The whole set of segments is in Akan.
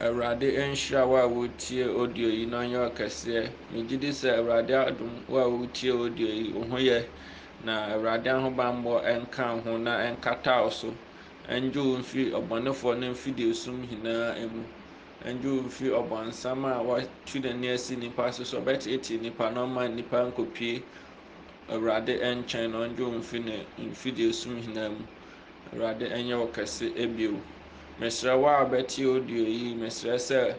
Awurade nhyira wo a wotie audio yi na ɔnyɛ ɔkɛseɛ. Megye di sɛ Awurade adom wo a wotie audio yi wo ho yɛ na Awurade ahobammɔ nka wo ho na nkata wo so. Ɛngye wo mfiri ɔbɔnefoɔ ne mfidiesom nyinaa mu. Ɛngye wo mfiri ɔbɔnsam a watu n'ani asi nnipa so sɛ ɔbɛteetee nnipa na ɔma nnipa nkɔpie Awurade nkyɛn na ɔngye wo mfiri ne mfidiesom nyinaa mu. Awurade ɛnyɛ wo kɛse bio. Mesrɛ wo a bɛtie audio yi, mesrɛ sɛ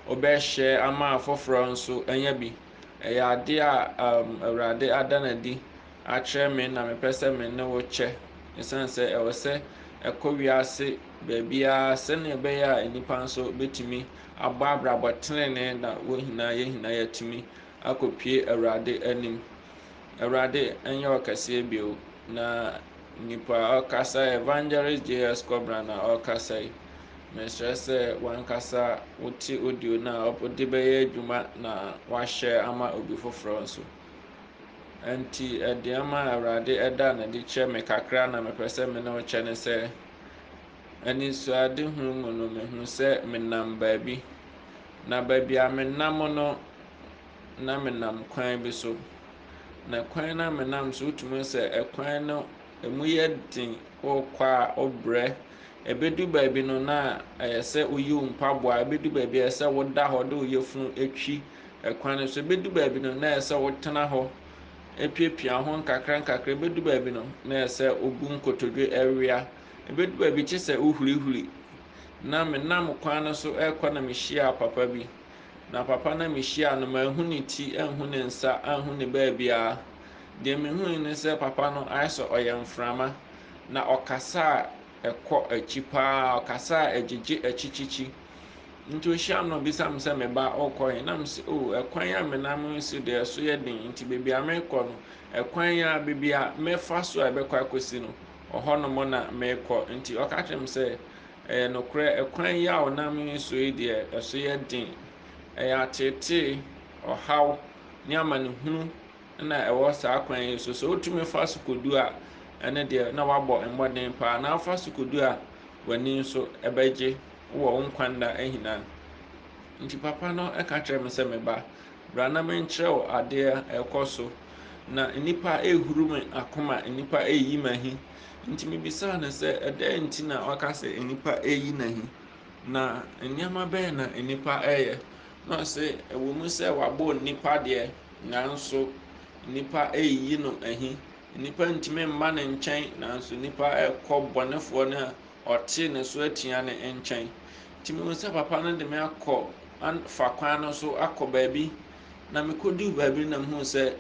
wobɛhyɛ ama afoforɔ nso anya bi. Ɛyɛ adeɛ a um, Awurade ada no adi akyerɛ me na mepɛ sɛ me ne wo kyɛ. Ɛsiane sɛ ɛwɔ sɛ ɛkɔ wiase baabiara sɛnea ɛbɛyɛ a nnipa nso bɛtumi abɔ abrabɔ tenenee na wɔn nyinaa yɛn nyinaa yɛatumi akɔpue Awurade anim. Awurade nyɛ ɔkɛseɛ bio na nipa a ɔkasa evangelist JS Kɔbena na ɔkasa yi mesrɛ sɛ wankasa wote audio no a ɔde bɛyɛ adwuma na wahyɛ ama obi foforɔ nso nti ɛdeɛma a awurade ɛda na de kyerɛ me kakra na mepɛ sɛ me ne wo kyɛ ne sɛ anisoade hunu mu no mehu sɛ menam baabi na baabi a menam no na menam kwan bi so, na kwan no a menam so wotumi hu sɛ kwan no ɛmu yɛ den, wokɔ a wobrɛ. Ɛbɛdu baabi no na ɛyɛ sɛ woyi wo mpaboa, ɛbɛdu baabi a ɛyɛ sɛ woda hɔ de wo yafunu atwi kwan no so, ɛbɛdu baabi no na ɛyɛ sɛ wotena hɔ apiapia ho nkakra nkakra, ɛbɛdu baabi no na ɛyɛ sɛ wobu nkotodwe awia, ɛbɛdu baabi kye sɛ wohurihuri. Na menam kwan no so rekɔ na mehyiaa papa bi. Na papa no a mihyiaa no, manhu ne ti, anhu ne nsa, anhu ne baabiara. Deɛ mihui ne sɛ papa no ayɛ sɛ ɔyɛ mframa, na ɔkasa a ɛkɔ akyi paa, ɔkasa a ɛgyegye akyikyikyi. Nti ohyiam na obisa me sɛ, me ba, wokɔ he? Na mese, oh, ɛkwan a menam resi deɛ ɛso yɛ den, nti baabi a merekɔ no, ɛkwan yi ara, baabi a mɛfa so a ɛbɛkɔ akɔsi no, ɔhɔnom na merekɔ. Nti ɔka kyerɛɛ me sɛ, Ɛyɛ nokorɛ, ɛkwan yi a ɔnam so yi deɛ, ɛso yɛ den. Ɛyɛ ateetee, ɔhaw, ne amanehunu na ɛwɔ saa kwan yi so. Sɛ wotumi fa so kɔdu a, ɛno deɛ, na woabɔ mmɔden paa, na wofa so kɔdu a, w'ani nso bɛgye wɔ wo nkwa nna nyinaa. Nti papa no ka kyerɛɛ me sɛ, Me ba, bra na menkyerɛ wo adeɛ a ɛrekɔ so. Na nnipa rehuru me akoma, nnipa reyi m'ahi, Enti mibisaa no sɛ, Ɛdɛn nti na woaka sɛ nnipa reyi no ahi, na nneɛma bɛn na nnipa reyɛ? Na ɔse, Ɛwɔ mu sɛ wɔabɔ nnipa deɛ, nanso nnipa reyi no ahi. Nnipa ntumi mma ne nkyɛn, nanso nnipa rekɔ bɔnefoɔ no a ɔte ne so atua no nkyɛn. Enti mehu sɛ papa no de me akɔ an fa kwan no so akɔ baabi, na mekɔduu baabi no na mehuu sɛ,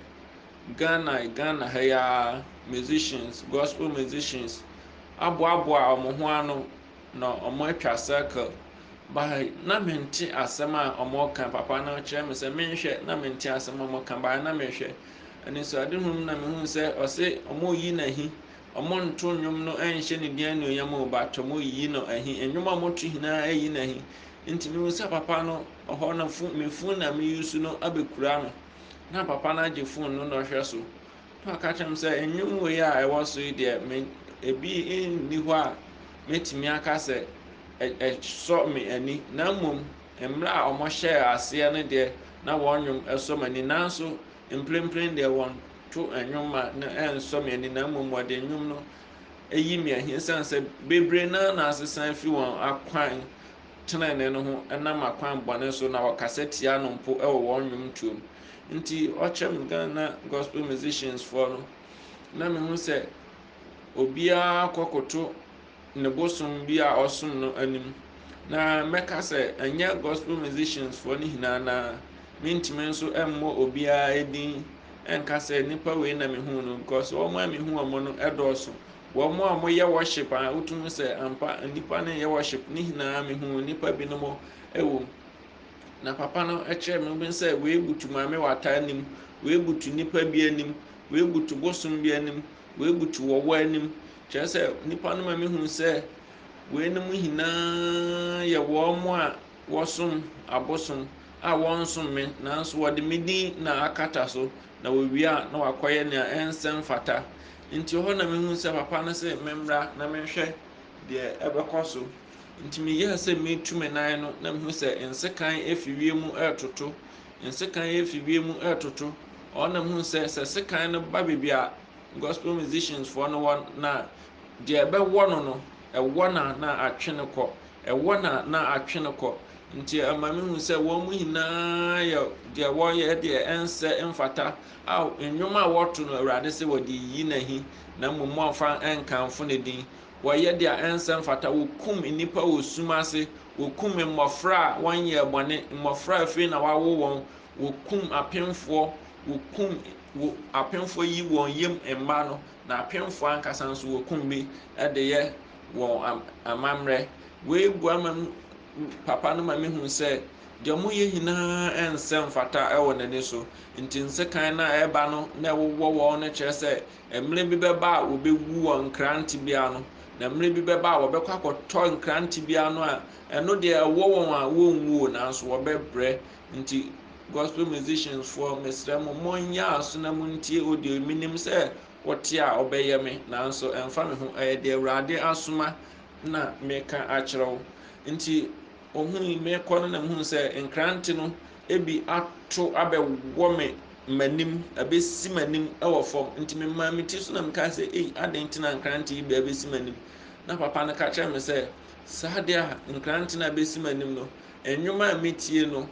Ghana Ghana ha yi ara musicians gospel musicians aboaboa wɔn ho ano na wɔn atwa circle ba ha yi na me nte asɛm a wɔn reka papa no kyerɛ me sɛ me nhwɛ na me nte asɛm a wɔn reka ba ha na me hwɛ anisoade hunu mu na me hu sɛ ɔse wɔn reyi n'ahi wɔn nto nnwom no nhyɛ ne din anuonyam o but wɔn reyi no ahi nnwom a wɔn to nyinaa ayi n'ahi nti me hu sɛ papa no ɔhɔ no fun me fun na me yi su no abɛkura no. Na papa no agye fon no na ɔhwɛ so na ɔka kyerɛ m sɛ nnwom wei a ɛwɔ so yi deɛ me ebi nni hɔ a mɛtumi aka sɛ ɛsɔ me ani na mmom mmerɛ a wɔhyɛɛ aseɛ no deɛ na wɔn nnwom ɛsɔ me ani nanso mprempren deɛ wɔn to nnwom ma no ɛnsɔ me ani na mmom wɔde nnwom no ɛyi me ahi sane sɛ bebree naa na asesa afi wɔn akwan tenenee no ho nam akwan bɔne so na wɔkasa tia no mpo wɔ wɔn nnwomtoɔ mu. Nti ɔkyerɛ me Ghana gospel musicians foɔ no na mehu sɛ obiara kɔkoto ne bosom bi a ɔsom no anim. Na mɛka sɛ ɛnyɛ gospel musicians foɔ no nyinaa na mentumi nso mmɔ obiara din nka sɛ nipa wei na mehu no because wɔn a mehu wɔn no dɔɔso Wɔ mo a mo yɛ worship a wotum hu sɛ ampa nnipa no yɛ worship ne nyinaa me hu nnipa bi no mo ɛwɔ mu na papa no ɛkyerɛ me bi sɛ wei butu maame wata anim wei butu nnipa bi anim wei butu bosom bi anim wei butu wɔwɔ anim kyerɛ sɛ nnipa no ma me hu sɛ wei no mo nyinaa yɛ wɔn mo a wɔsom abosom a wɔnsom me nanso wɔde me din na akata so na wɔwie a na wakɔyɛ nea ɛnsɛ mfata Enti ɛhɔ na mehuu sɛ papa no se memmra na menhwɛ deɛ ɛbɛkɔ so. Enti meyɛɛ sɛ meretu me nan no na mehunu sɛ nsekan afi wiem retoto. Nsekan afi wiem retoto. Ɛhɔ na mehunu sɛ sɛ sekan no ba baabi a gospel musicians foɔ no wɔ no a, deɛ ɛbɛwɔ no no, ɛwɔ no a na atwe no kɔ. Ɛwɔ no a na atwe no kɔ. Nti ɛma mehunu sɛ wɔn nyinaa yɛ deɛ wɔyɛ deɛ ɛnsɛ mfata Ao, nnwom a wɔto no Awurade sɛ wɔde reyi no ahi, na mmom moamfa ankamfo ne din. Wɔyɛ deɛ ɛnsɛ mfata, wɔkum nnipa wɔ sum ase, wɔkum mmɔfra a wɔnyɛɛ bɔne, mmɔfra a afei na wɔawo wɔn, wɔkum apemfoɔ, wɔkum wo, apemfoɔ yi wɔn yam mma no, na apemfoɔ ankasa nso wɔkum bi de yɛ wɔn amammerɛ. Wei boa ma papa no ma mehu sɛ Deɛ moyɛ nyinaa nsɛ mfata wɔ n'ani so, nti nsekan no a ɛreba no na ɛwowɔ wɔn no kyerɛ sɛ mmerɛ bi bɛba a wɔbɛwu wɔ nkra tebea ano, na mmerɛ bi bɛba a wɔbɛkɔ akɔtɔ nkra tebea ano a ɛno deɛ ɛwɔ wɔn a wɔnwu o nanso wɔbɛbrɛ. Nti gospel musicians foɔ mesrɛ mo monyɛ aso na montie audio yi, menim sɛ wote a wobɛyɛ me nanso ɛmfa me ho ɛyɛ deɛ Awurade asoma na meka akyerɛ wo nti Ohui me rekɔ no na mehuu sɛ nkrante no bi ato abɛwɔ me m'anim, abɛsi m'anim wɔ fam. Nti memaa me ti so na mekaa sɛ, ei, adɛn nti na nkrante yi bi abɛsi m'anim? Na papa no ka kyerɛɛ me sɛ, saa deɛ a nkrante no abɛsi m'anim no, nnwom a metie no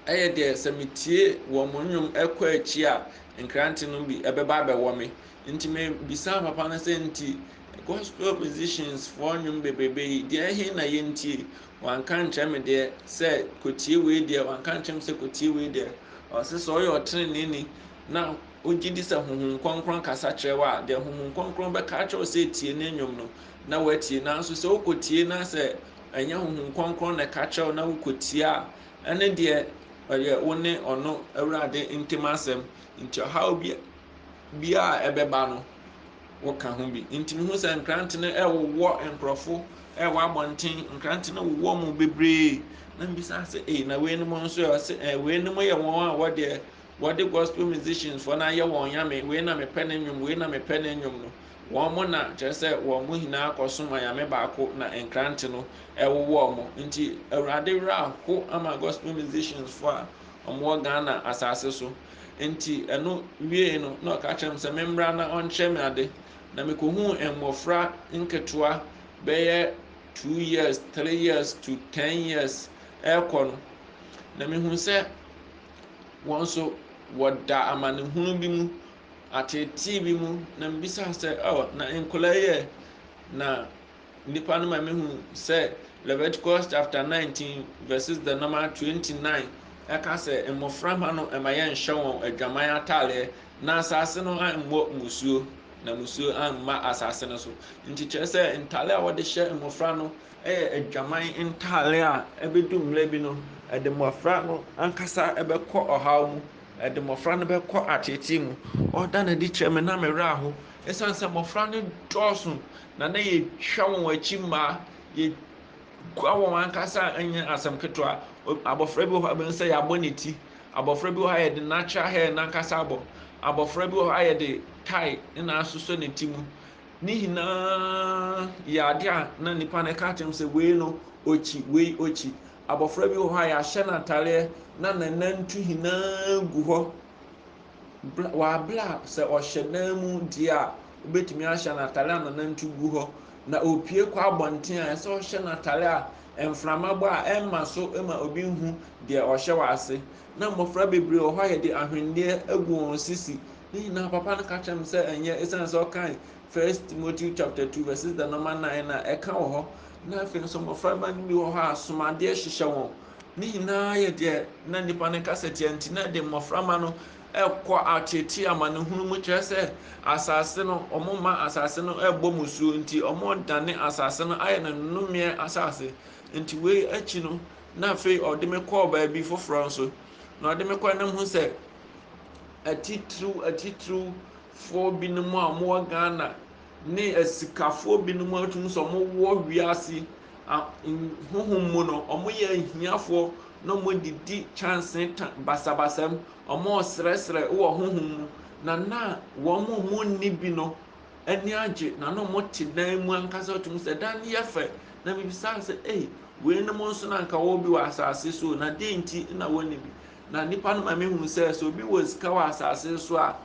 yɛ deɛ sɛ metie wɔn nnwom kɔ akyi a, nkrante no bi bɛba abɛwɔ me. Nti me bisaa papa no sɛ nti gospel musicians foɔ nnwom bebrebe yi deɛ ɛhe na yɛntie wanka nkyerɛ me deɛ sɛ kɔtie wei deɛ wanka nkyerɛ me sɛ kɔtie wei deɛ ɔse sɛ ɔyɛ ɔtenene ni na wogye di sɛ honhom kɔnkrɔn kasa kyerɛ wɔ a deɛ honhom kɔnkrɔn bɛka akyerɛ wo sɛ tie ne nnwom no na woatie nanso sɛ wokɔtie na sɛ ɛnyɛ honhom kɔnkrɔn na ɛka kyerɛ wo na wokɔtie a ɛne deɛ ɔyɛ wo ne ɔno awurade ntem asɛm nti ɔhaw bi biara a ɛbɛba no, woka ho bi. Nti mehu sɛ nkrante no ɛwowɔ nkurɔfo ɛwɔ abɔnten, nkrante no wowɔ mu bebree. Na mbisa sɛ, ee na weinom nso ɛ? Ɔse, ee weinom yɛ wɔn a wɔdeɛ wɔde gospel musicians fɔ no ayɛ wɔn nyame, wei na mepɛ ne nnwom, wei na mepɛ ne nnwom no. Wɔn mo na kyerɛ sɛ wɔn mo nyinaa kɔsom anyame baako na nkrante no ɛwowɔ mo. Nti Awurade werɛ aho ama gospel musicians fɔ a Wɔwɔ Ghana asase so. Enti ɛno wiei no, na ɔka kyerɛ me sɛ memmra na ɔnkyerɛ me ade. Na mikohuu mmofra nketewa bɛyɛ two years, three years to ten years rekɔ no, na mihu sɛ wɔn nso wɔda amanehunu bi mu, ateetee bi mu, na mibisaa sɛ, oh, na nkwadaa yi ɛ? Na Nnipa no ma mehu sɛ Leviticus chapter 19 verses the number 29 ɛka sɛ mmɔfra mma no ɛma yɛnhyɛ wɔn adwaman ataareɛ na asase no ammɔ musuo na musuo amma asase no so nti kyerɛ sɛ ntaare a wɔde hyɛ mmɔfra no ɛyɛ adwaman ntaare a ɛbɛdu mmerɛ bi no ɛde mmɔfra no ankasa ɛbɛkɔ ɔhaw mu ɛde mmɔfra no bɛkɔ ateetee mu ɔda no adi kyerɛ me na me werɛ aho ɛsiane sɛ mmɔfra no dɔɔso Na na yɛtwa wɔn akyi mma yɛkura wɔn ankasa nyɛ asɛm ketewa. Abɔfra bi wɔ hɔ a bɛhu sɛ yɛabɔ ne ti. Abɔfra bi wɔ hɔ a yɛde natural hair no ankasa abɔ. Abɔfra bi wɔ hɔ a yɛde tie ne na asosɔ ne ti mu. Ne nyinaa yɛ adeɛ a na nnipa no ka kyerɛ sɛ wei no ɔkyi, wei ɔkyi. Abɔfra bi wɔ hɔ a yɛahyɛ no atadeɛ na nanantu nyinaa gu hɔ. bla waa bla a sɛ ɔhyɛ dan mu deɛ a wobɛtumi ahyɛ no atare a nanantu gu hɔ na ɔpue kɔ abɔnten a ɛsɛ ɔhyɛ no atare a mframa bɔ a ɛmma so ma obi nhu deɛ ɔhyɛ wɔ ase na mmɔfra bebree wɔ hɔ a yɛde ahwenneɛ agu wɔn sisi ne nyinaa papa no ka kyerɛ me sɛ ɛnyɛ ɛsiane sɛ ɔkan first timothy chapter 2 verses the number 9 na ɛka wɔ hɔ na afei nso mmɔfra mma no bi wɔ hɔ a somadeɛ hyehyɛ wɔn Ne nyinaa yɛ deɛ na nnipa no kasa tia nti na ɛde mmɔframma no kɔ ateetee amanehunu mu kyerɛ sɛ asase no wɔn mma asase no ɛbɔ mu suo nti wɔn dane asase no ayɛ no nnomeɛ asase nti wei akyi no na afei ɔde me kɔɔ baabi foforɔ nso na ɔde me kɔ nam ho sɛ atitiriw atitiriwfoɔ binom a wɔwɔ Ghana ne asikafoɔ binom a wɔtumi sɛ wɔwɔ wiase a honhom mu no, wɔyɛ ahiafoɔ na wɔdidi kyanse ta basabasa mu, wɔresrɛsrɛ wɔ honhom mu, na na wɔn a wɔnni bi no ani agye, na na wɔte dan mu ankasa wɔtumi sɛ dan no yɛ fɛ, na mebisaa sɛ, ei, weinom nso na anka wɔwɔ bi wɔ asase so o, na deɛ nti na wɔnni bi? Na nnipa no ma mehunu sɛ, sɛ obi wɔ sika wɔ asase so a,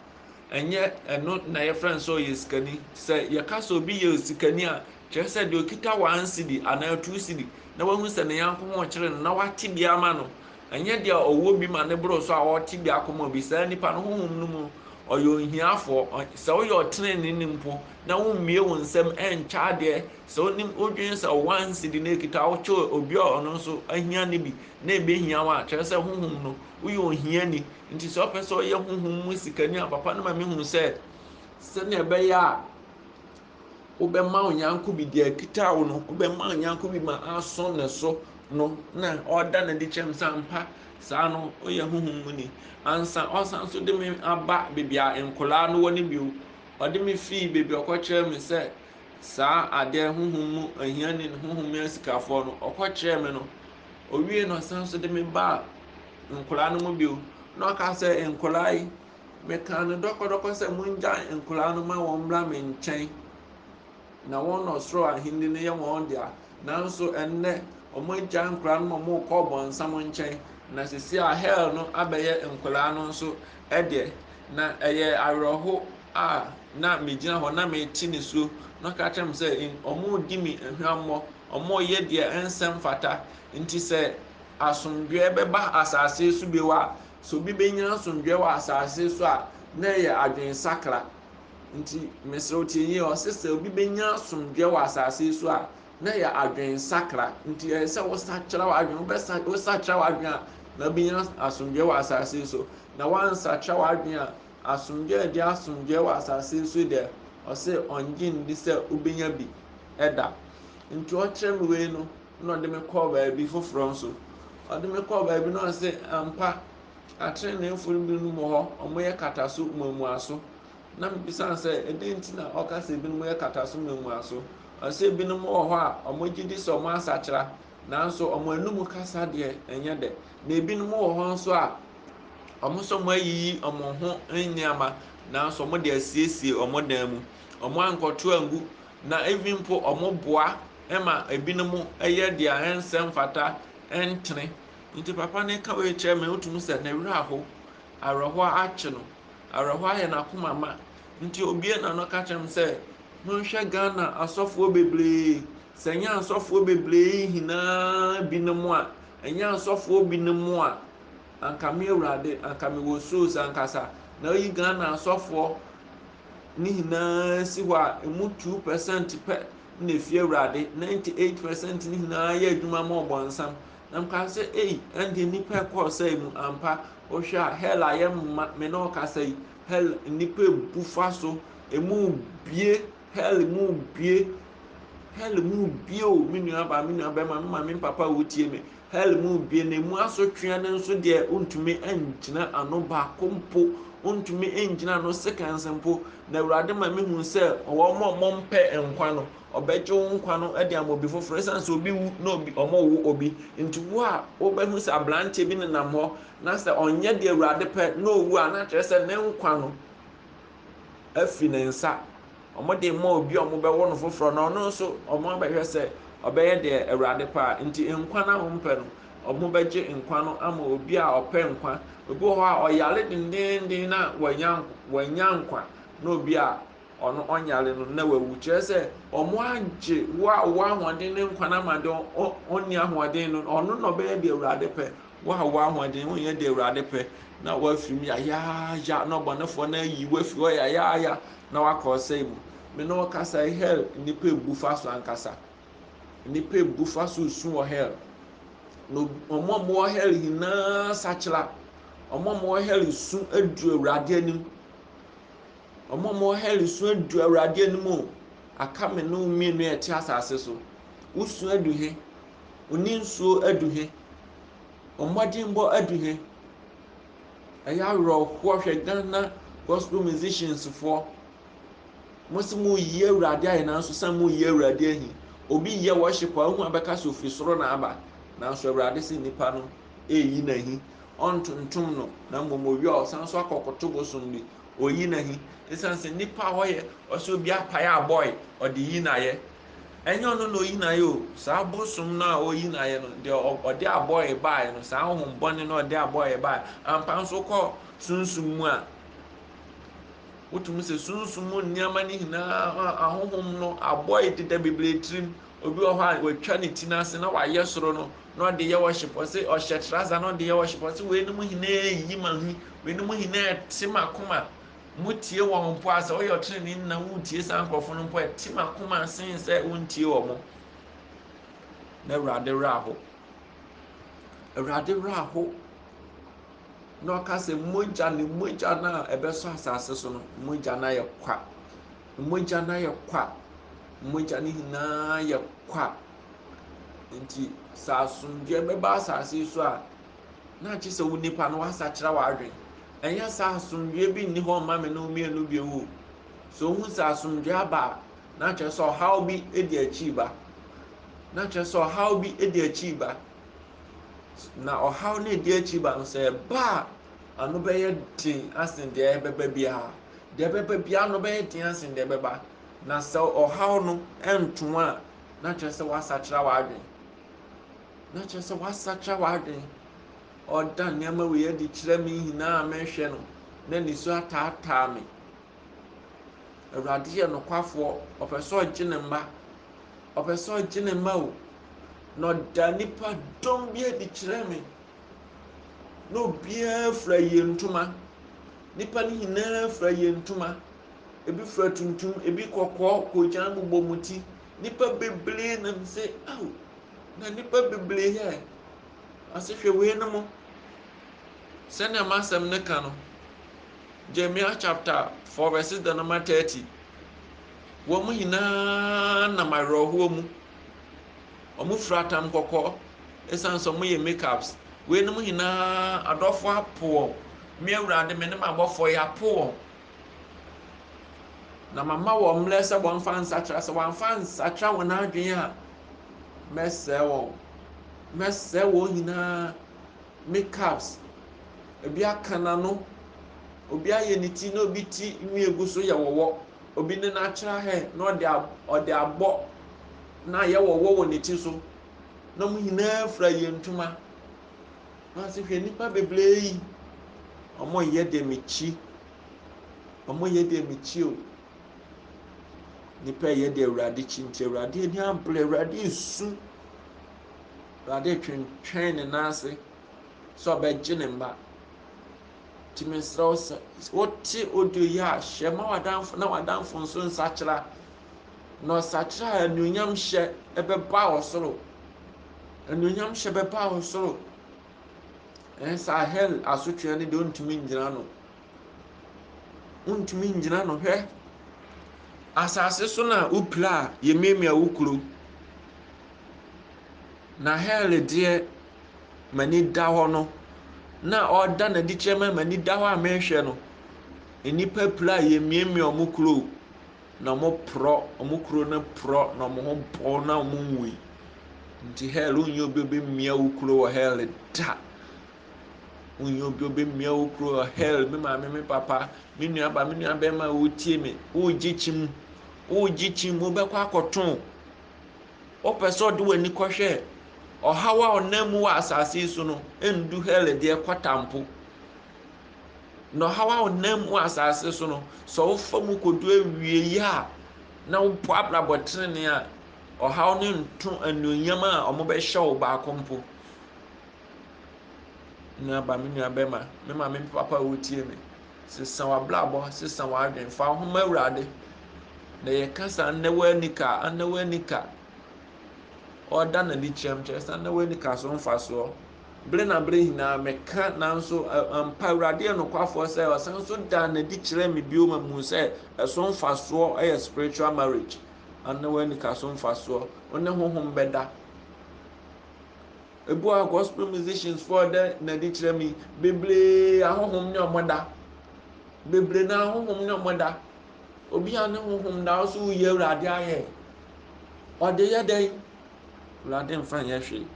ɛnyɛ ɛno na yɛfrɛ no sɛ ɔyɛ sikani sɛ yɛka sɛ obi yɛ sikani a kyerɛ sɛ deɛ ɔkita one cedi anaa two cedi na wahu sɛ ne yanko ho kyerɛ no na wate bi ama no ɛnyɛ deɛ ɔwɔ bi ma ne boro so a ɔte bi akɔma obi saa nipa no honhom no mu ɔyɛ ohiafoɔ sɛ woyɛ ɔtenene ne mpo na wommie wo nsɛm ɛnkyɛ adeɛ sɛ wonim wodwene sɛ one cedi na ɛkita wokyɛ obi a ɔno nso ahia ne bi na ɛbɛhia wo a kyerɛ sɛ honhom no woyɛ ohiani Nti sɛ ɔpɛ sɛ ɔyɛ honhom mu sikani a, papa no ma mehu sɛ sɛnea ɛbɛyɛ a wobɛma wo yɔnko bi deɛ akita wo no wobɛma wo yɔnko bi ma asɔ ne so no na ɔda no adi kyɛm sɛ ampa saa no ɔyɛ honhom mu ni ansa ɔsan so de me aba baabi a nkwadaa no wɔ no bio ɔde me fii baabi ɔkɔkyerɛ me sɛ saa adeɛ honhom mu ahiani honhom mu asikafoɔ no ɔkɔkyerɛ me no owie no ɔsan so de me baa nkwadaa no mu bio, na ɔka sɛ, Nkwadaa yi, mekaa no dɔkɔdɔkɔ sɛ mongyae nkwadaa no ma wɔmmra me nkyɛn na wɔn na ɔsoro ahenni no yɛ wɔn dea. Nanso ɛnnɛ, wɔagyae nkwadaa no ma wɔrekɔ ɔbɔnsam nkyɛn, na sisi a hell no abɛyɛ nkwadaa no nso deɛ. Na ɛyɛ awerɛho a na megyina hɔ na mete ne suo na ɔka kyerɛ me sɛ wɔredi me hwammɔ, wɔreyɛ deɛ ɛnsɛ mfata. Nti sɛ asomdwoeɛ bɛba asase so bio a, sɛ obi bɛnya asomdwoeɛ wɔ asase so a, na ɛyɛ adwensakra. Nti mesrɛ wo tie yie, ɔse sɛ obi bɛnya asomdwoeɛ wɔ asase so a, na ɛyɛ adwensakra. Nti ɛyɛ sɛ wosakyera w'adwene, wobɛsa wosakyera w'adwene a, na wobɛnya asomdwoeɛ wɔ asase so. Na woansakyera w'adwene a, asomdwoeɛ a ɛde asomdwoeɛ wɔ asase so deɛ, ɔse ɔngye nni sɛ wobɛnya bi da. Nti ɔkyerɛ me wei no, na ɔde me kɔɔ baabi foforɔ nso. Ɔde me kɔɔ baabi na ɔse, ampa, ateneneefo no binom wɔ hɔ, wɔyɛ kataso mmamuaso. Na mebisa no sɛ, ɛdɛn nti na ɔka sɛ ebinom yɛ kataso mmamuaso? Ɔse ebinom wɔ hɔ a wɔgye di sɛ wɔasakyera, nanso wɔn anum kasa deɛ ɛnyɛ dɛ. Na ebinom wɔ hɔ nso a wɔn sɛ wɔayiyi wɔn ho nneɛma, nanso wɔde asiesie wɔn dan mu. Wɔankɔto angu Na even mpo wɔn boa ma ebinom yɛ deɛ ɛnsɛ mfata ɛntene nti papa no ka wei kyerɛ me wotumi sɛ ne werɛ aho awerɛhoɔ akye no awerɛhoɔ ayɛ n'akoma ma nti obie na no ka kyerɛ me sɛ monhwɛ Ghana asɔfoɔ bebree sɛ nyɛ asɔfoɔ bebree hinaa binom a ɛnyɛ asɔfoɔ binom a anka me awurade anka me wɔ soro sankasa na oyi Ghana asɔfoɔ no nyinaa si hɔ a, emu two percent pɛ na efi Awurade, ninety eight percent no nyinaa yɛ adwuma ma ɔbɔnsam. Na mekaa sɛ, ei, ɛnde nnipa ɛkɔɔ sɛe mu ampa. Wohwɛ a, hell a yɛmma me ne ɔkasa yi, hell nnipa ebu fa so, emu bie, hell mu bie, hell mu bie o, me nua baa, me nua bɛrima, me maame, me papa a wotie me, Hell mu Gehenemu asotwea no nso deɛ wontumi ngyina ano, baako mpo wontumi ngyina ano seconds mpo, na Awurade ma mehu sɛ wɔn a wɔmpɛ nkwa no, ɔbɛgye wo nkwa no de ama obi foforɔ, ɛsiane sɛ obi wu na obi wɔwo obi, nti wo a wobɛhu sɛ aberanteɛ bi nenam hɔ na sɛ ɔnyɛ deɛ Awurade pɛ na owu a, na kyerɛ sɛ ne nkwa no afi ne nsa. wɔde rema obi a wɔbɛwo no foforɔ na ɔno nso wɔabɛhwɛ sɛ ɔbɛyɛ deɛ Awurade pɛ a, nti nkwa no a wɔmpɛ no, wɔbɛgye nkwa no ama obi a ɔpɛ nkwa. Obi wɔ hɔ a ɔyare dendeenden na wanya wanya nkwa na obi a ɔno ɔnyare no na wawu. Kyerɛ sɛ wɔagye wo a wowɔ ahoɔden ne nkwa no ama deɛ ɔnni ahoɔden no, ɔno na ɔbɛyɛ deɛ Awurade pɛ. Wo a w'ahoɔden ho nyɛ deɛ Awurade pɛ, na woafiri mu yayaaya, na ɔbɔnefoɔ no ayi wo afiri hɔ yayaaya, na wakɔ ɔsɛe mu. Me ne wo kasa yi, hell nnipa bu fa so ankasa. Nnipa bu fa so resu wɔ hell. Na wɔn a wɔwɔ hell nyinaa sakyera. Wɔn a wɔwɔ hell su adu Awurade anim. Wɔn a wɔwɔ hell su adu Awurade anim o. Aka me ne wo mmienu a ɛte asase so. Wosu adu he? Wo ne nsuo adu he? Wo mmɔdenbɔ adu he? Ɛyɛ awerɛhoɔ hwɛ Ghana gospel musicians foɔ. Mo se mo yi Awurade ayɛ nanso sɛ mo yi Awurade ahi. Obi yɛ worship a wohu abɛka sɛ ofiri soro na aba nanso Awurade se nipa no eyi na hi. Ɔntontom no na mmom owie a ɔsan so akɔkoto bosom bi oyi na hi. Esiane sɛ nipa a ɔyɛ ɔsɛ obi apae abɔe ɔde yi na yɛ. Ɛnyɛ ɔno na oyi no ayɛ o, saa bosom no a oyi no ayɛ no, deɛ ɔde abɔe baeɛ no, saa honhom bɔne no ɔde abɔe baeɛ. Ampa nso kɔ sunsum mu a, wotumi sɛ sunsum mu nneɛma no nyinaa ahonhom no abɔe deda bebree tirim. Obi wɔ hɔ a watwa ne ti n'ase na wayɛ soro no na ɔde yɛ worship. Ɔse ɔhyɛ trasa na ɔde yɛ worship. Ɔse weinom nyinaa yi ma hu, weinom nyinaa te m'akoma. Motie wɔn mpo a, sɛ wɔyɛ ɔtreneeni na wontie saa nkurɔfo no mpo a, ɛte m'akoma sen sɛ wontie wɔn. Na Awurade werɛ aho. Awurade werɛ aho. Na ɔka sɛ mogya ne mogya no a ɛbɛsɔ asase so no, mogya no ayɛ kwa. Mogya no ayɛ kwa. Mogya no nyinaa yɛ kwa. Nti sɛ asomdwoeɛ bɛba asase so a, Na agye sɛ wo nipa no w'asakyera w'adwen. Ɛnyɛ saa asomdwoeɛ bi nni hɔ mma me ne wo mmienu bio o. So wohu sɛ asomdwoeɛ aba a, na kyerɛ sɛ ɔhaw bi di akyiri ba. Na kyerɛ sɛ ɔhaw bi di akyiri ba. Na ɔhaw no ɛdi akyiri ba no sɛ ɛba a, ano bɛyɛ den asen deɛ ɛbɛba biara. Deɛ ɛbɛba biara no bɛyɛ den asen deɛ ɛbɛba. Na sɛ ɔhaw no nto a, na kyerɛ sɛ w'asakyera w'adwen. na kyerɛ sɛ woasakyera w'adwene. Ɔreda nneɛma wei adi kyerɛ me nyinaa a merehwɛ no, na nisuo ataataa me. Awurade yɛ nokwafoɔ, ɔpɛ sɛ ɔgye ne mma. Ɔpɛ sɛ ɔgye ne mma o. Na ɔda nipa dɔm bi adi kyerɛ me. Na obiara fura yie ntoma. Nipa no nyinaa fura yie ntoma. Ebi fura tuntum, ebi kɔkɔɔ, koogyan bobɔ wɔn ti. Nnipa bebree nam sɛ, Ao, na nnipa bebree yɛ ɛ. Ɔse hwɛ weinom, sɛnea m'asɛm no ka no, Jeremiah chapter 4 verses the number 30. Wɔn nyinaa nam awerɛhoɔ mu. Wɔn fira atam kɔkɔɔ, ɛsiane sɛ wɔyɛ makeups. Weinom nyinaa adɔfoɔ apo wɔn. Me awurade me ne m'abɔfoɔ yɛapo wɔn. Na mama wɔn mmerɛ sɛ wɔmfa nsakyera, sɛ wɔamfa ansakyera wɔn adwene a, mɛsɛe wɔn. Mɛsɛe wɔn nyinaa. Me calves, ebi aka n'ano, obi ayɛ ne ti na obi ti nwi egu so yɛ wɔwɔ, obi ne natural hair na ɔde ɔde abɔ na ayɛ wɔwɔ wɔ ne ti so, na wɔn nyinaa fura yɛn ntoma. Nanso hwɛ nnipa bebree yi, wɔyɛ deɛ mekyi, wɔyɛ deɛ mekyi o. Nnipa yɛ deɛ Awurade kyi nti Awurade ani abere, Awurade resu, Awurade retwentwɛn ne nan ase sɛ ɔbɛgye ne mma. Nti mesrɛ wo sɛ wote audio yi a hyɛ ma w'adamfo na w'adamfo nso nsakyera. na ɔsakyera a, anuonyamhyɛ bɛba wɔ soro. Anuonyamhyɛ bɛba wɔ soro. Ɛn saa hell asotweɛ no deɛ ɔntumi ngyina no. Ɔntumi ngyina no hwɛ. Asase so na wopira a yɛmiamia wo kuro. Na hell deɛ m'ani da hɔ no na ɔda n'adi kyerɛ mɛ m'ani da hɔ a mehwɛ no. Nnipa pira a yɛmiamia wɔn kuro. Na ɔmo porɔ, ɔmo kuro no porɔ na ɔmo ho pow na ɔmo nwui. Nti hɛl wonyi obi obi mmia wo kuro wɔ hɛl da. Wonyi obi obi mmia wo kuro wɔ hɛl, me maame, me papa, me nua ba, me nua bɛrima a wotie me, wogye kyim, wogye kyim, wobɛkɔ akɔto. Wopɛ sɛ ɔde w'ani kɔhwɛ ɔhaw a ɔnam mu wɔ asase yi so no, endu hɛl deɛ kɔtampo. Na ɔhaw a ɔnam mu asase so no, sɛ wofa mu kodu awieyi a, na wobɔ abrabɔ tenenee a, ɔhaw no nto anuonyam a wɔbɛhyɛ wo baako mpo. Nuaba, me nua bɛma, me maame, me papa a wotie me, sesa w'abrabɔ, sesa w'adwene, fa wo ho ma Awurade. Na yɛka sɛ anna w'anika, anna w'anika, ɔda n'ani kyerɛm kyerɛ sɛ anna w'anika so mfasoɔ. Bere na bere nyinaa meka, nanso ampa Awurade yɛ nokwafoɔ sɛ ɔsan so daa no adi kyerɛɛ me bio ma mehuu sɛ ɛso mfasoɔ yɛ spiritual marriage anaa w'anika so mfasoɔ, wo ne honhom bɛda. Ebu a gospel musicians foɔ dɛ na adi kyerɛ me bebree ahohom ne ɔmo da. Bebree na ahohom ne ɔmo da. Obi a ne honhom da so woyɛ Awurade ayɛ. Ɔde yɛ dɛn? Awurade mfa nyɛ hwee.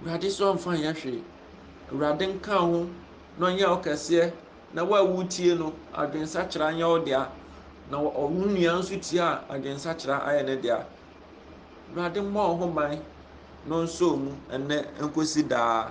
Awurade sɛ ɔmfa nyɛ hwee. Awurade nka wo ho na ɔnyɛ wo kɛseɛ na wo a wotie no adwensakyera nyɛ wo dea na wo nua nso tie a adwensakyera ayɛ ne dea. Awurade mmɔ wo ho ban na ɔnsɔ mu ɛnnɛ nkɔsi daa.